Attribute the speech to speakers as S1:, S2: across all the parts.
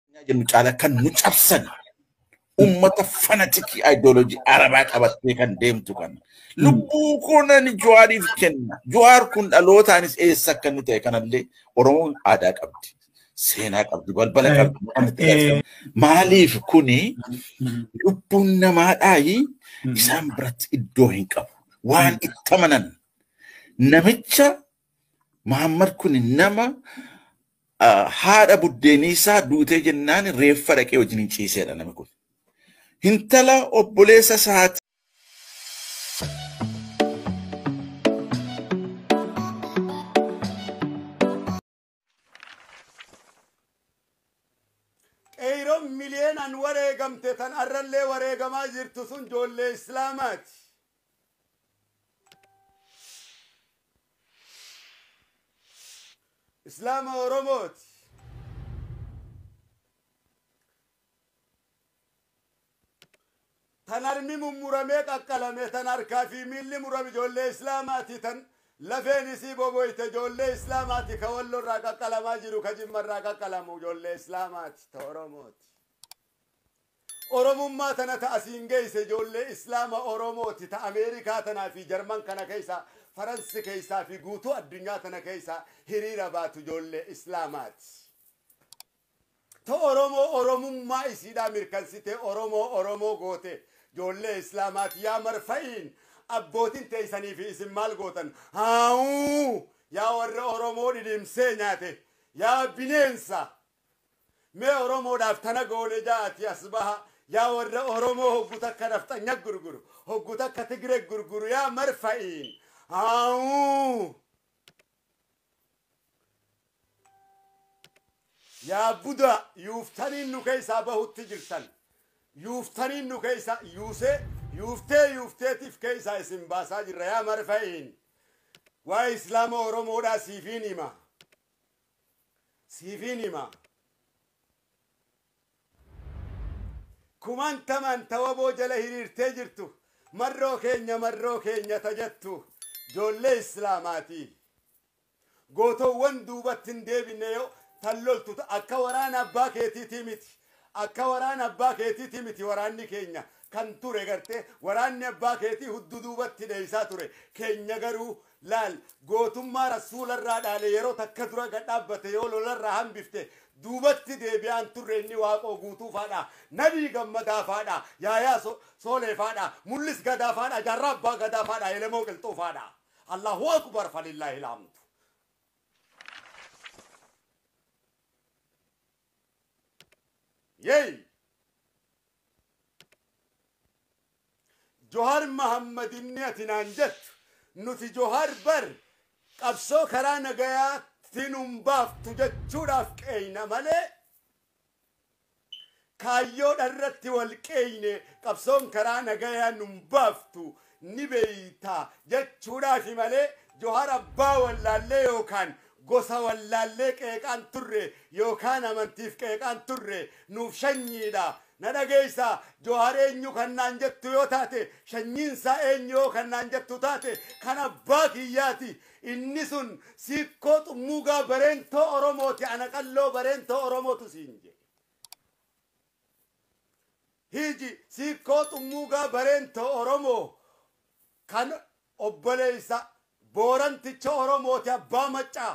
S1: Addunyaa jennu caala kan nu cabsan ummata fanatikii ideoloojii arabaa qabattee kan deemtu kan lubbuu koo nan jawaariif kenna jawaar kun dhalootaanis eessa akka inni ta'e kanallee oromoon aadaa qabdi seenaa qabdi balbala Eh, qabdi waan itti eh, galchan. maaliif kuni lubbuun namaadhaayi isaan biratti iddoo hin qabu waan itti amanan namicha Muhammad kun nama haadha buddeeniisaa duutee jennaan reeffa dhaqee wajjin ciiseedha namni kun. Hintala obboleessa isaati.
S2: Qeeyroon miliyeenaan wareegamte tan arrallee wareegamaa jirtu sun joollee Islaamaati. Islaama Oromooti. Tan harmi mummuramee qaqqalame, tan harkaa fi miilli murame ijoollee Islaamaati, tan lafeen isii boboyte ijoollee Islaamaati, ka Wallo irraa qaqqalamaa jiru, ka Jimma irraa qaqqalamu ijoollee Islaamaati, ta Oromooti. Oromummaa tana ta asiin geeyse ijoollee Islaama Oromoo ti ta Ameerikaa tanaa fi Jarman kana keeysaa, Faransi keeysaa fi guutuu addunyaa tana keeysaa hiriira baatu ijoollee Islaamaa ti. Ta Oromoo Oromummaa isiidhaa mirkansitee Oromoo Oromoo goote ijoollee Islaamaa ti. Yaa marfa'iin abbootin teeysanii fi isin maal gootan? Haawuu! Yaa warra Oromoo dhidhimsee nyaate! Yaa bineensa! Mee oromoodhaaf tana goone ja'atii as baha yaa warra oromoo hoggu takka nafxanya gurguru hoggu takka tigre gurguru yaa marfa'iin aawuu yaa budaa yuuftaniin nu keessaa bahutti jirtan yuuftaniin nu keessaa yuusee yuuftee yuufteetiif keessaa isin baasaa jirra yaa marfa'iin waa islaama oromoodhaa siifiin hima Siifin hima. Kumantaman ta wbo jala hiriirtee jirtu marroo keenya marroo keenya ta jettu joollee Islaamaati. Gootoowwan duubatti hin deebinne yoo tan loltu ta akka waraana abbaa keetiitii miti. Akka waraana abbaa keetiitii miti waraanni keenya kan ture gartee waraanni abbaa keetii huddu duubatti dheeysaa ture keenya garuu Laal, gootummaa Rasuula irraa dhaale yeroo takka dura gad dhaabbate yoo lola irraa hambifte duubatti deebi'aa hin turre inni Waaqoo Guutuu faadha, Nabii Gammadaa faadha, Yaayaa Soolee faadha, Mullis Gadaa faadha, Jaarraa Abbaa Gadaa faadha, Elemoo Qilxuu faadha. Allaahu Akbar falillaahil hamdu. Yeey! Johar Mahammad inni ati naan jettu nuti Johar bar qabsoo karaa nagayaatti nun baaftu jechuudhaaf qeeyna malee kaayyoodha irratti wal qeeyne qabsoon karaa nagayaa nun baaftu ni beeyta jechuudhaafi malee Johar abbaa wallaallee yookaan gosa wallaallee qeeqaan turre yookaan amantiif qeeqaan turre nuuf shanyiidha Na dhageessa, Johar eenyu kan naan jettu yoo taate, shanyiin isaa eenyu yoo kan naan jettu taate, kan abbaa kiyyaati. Inni sun Siikkoo Xummuugaa Bareentoo Oromooti, ana Qalloo Bareentoo Oromootu siin jedhe. Hiiji, Siikkoo Xummuugaa Bareentoo Oromoo kan obboleessa Booranticha Oromooti, abbaa Maccaa.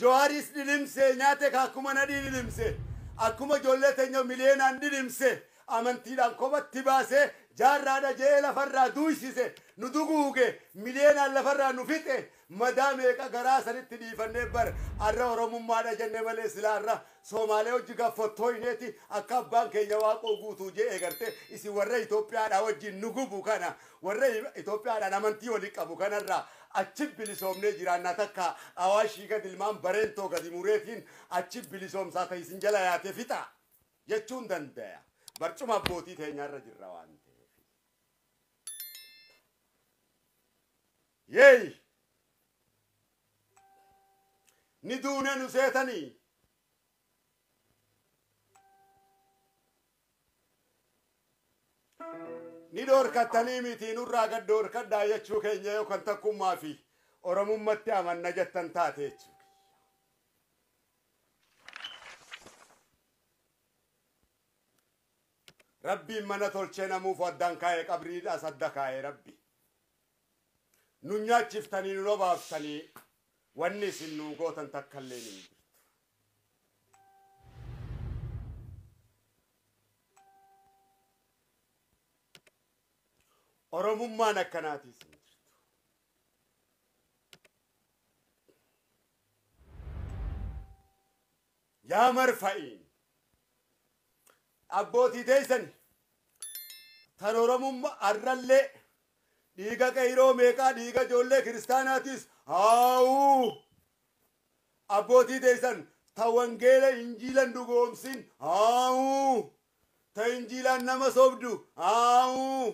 S2: Johariis dhidhimsee nyaate ka akkuma nadhii dhidhimse, akkuma ijoollee teenya miliyeenaan dhidhimse, amantiidhaan kophatti baase, jaarraadha je'ee lafarraa duuysise, nu duguuge, miliyeenaan lafarraa nu fixe, madaa meeqa garaa sanitti dhiifannee bar arra Oromummaadha jenne malee silaa arra Soomaalee wajji gad fottooyneeti akka abbaan keenya Waaqoo Guutuu je'e gartee isin warra Itoophiyaadhaa wajjiin nu gubu kana Warra Itoophiyaadhaan amantii waliin qabu kanarraa achi bilisoomnee jiraannaa takka Awaashii gad ilmaan Bareentoo gadi mureefiin achi bilisoomsaa ta isin jala yaate fixaa jechuun dandaya. Barcuma abbootii teenyaarra jirra waan ta'eef. Yeey! Ni duune nu seetanii! ni dhoorkattanii mitii nurraa gad dhoorkadhaa jechuu keenya yoo kan takkummaa fi oromummatti amanna jettan taate jechuu rabbiin mana tolchee namuuf addaan kaa'e qabriidhaas adda kaa'e rabbi nu nyaachiftanii nu nobaaftanii wanni isin nuu gootan takkallee ni jirtu Oromummaan akkanaati isin jirtu. Yaa marfa'iin abbootii teessan tan Oromummaa har'allee dhiiga qeyroo meeqaa dhiiga ijoollee kiristaanaatiis haawuu Abbootii teessan ta wangeela injiilan dhugoomsin aawuu ta injiilaan nama sobdu aawuu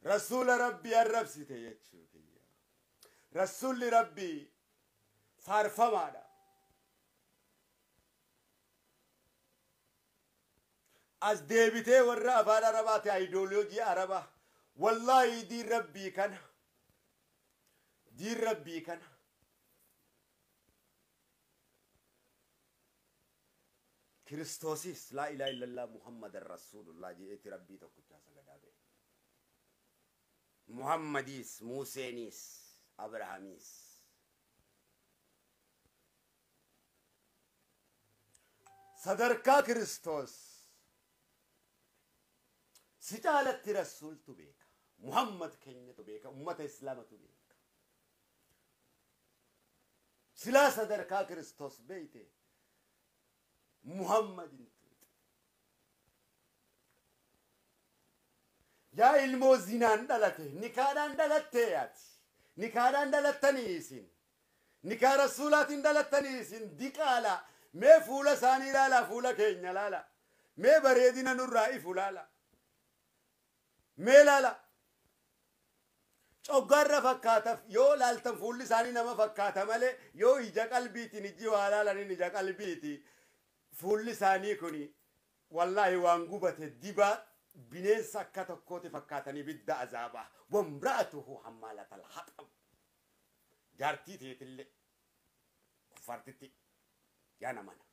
S2: rasuula rabbii arrabsite jechuu kiyya rasuulli rabbii faarfamaadha as deebitee warra afaan arabaati ideology araba wallahi diin rabbii kana diin rabbii kana kiristoosis laa ilaa illallaa muhammadan rasuulullaa je'eeti rabbii tokkichaa sagadaa ba'e muhammadiis muuseeniis abrahamiis Sadarkaa Kiristoos si caalatti Rasuultu beeka. Muhammad keenyatu beeka. Ummata Islaamatu beeka. Silaa sadarkaa Kiristoos beeyte Muhammad hin tuuxu. Yaa ilmoo zinaan dhalate nikaadhaan dhalattee yaati. Nikaadhaan dhalattanii isin Nikaa Rasuulaatiin dhalattanii isin diqaalaa mee fuula isaanii ilaalaa fuula keenya ilaalaa mee bareedina nurraa ifu ilaalaa mee ilaalaa coggaarra fakkaataf yoo ilaaltan fuulli isaanii nama fakkaata malee yoo ija qalbiitiin ijji waa ilaalaniin ija qalbiiti fuulli isaanii kuni wallaahi waan gubate dibaa bineensa akka tokkooti fakkaatanii bidda azaabaa wamra'atuhu hammaalatal haxam jaartii teetillee kuffaartitti yaa namana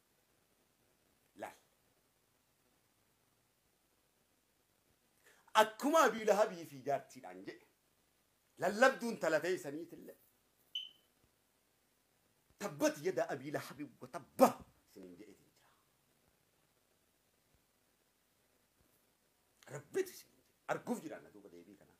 S2: laal akkuma abii lahabii fi jaartiidhaan jedhe lallabduun talatee isaniitillee tabbat yada abii lahabii wa tabba isiniin jedheetiin jira rabbitu isiniin jedhe arguuf jiraanna duuba deebii kanaa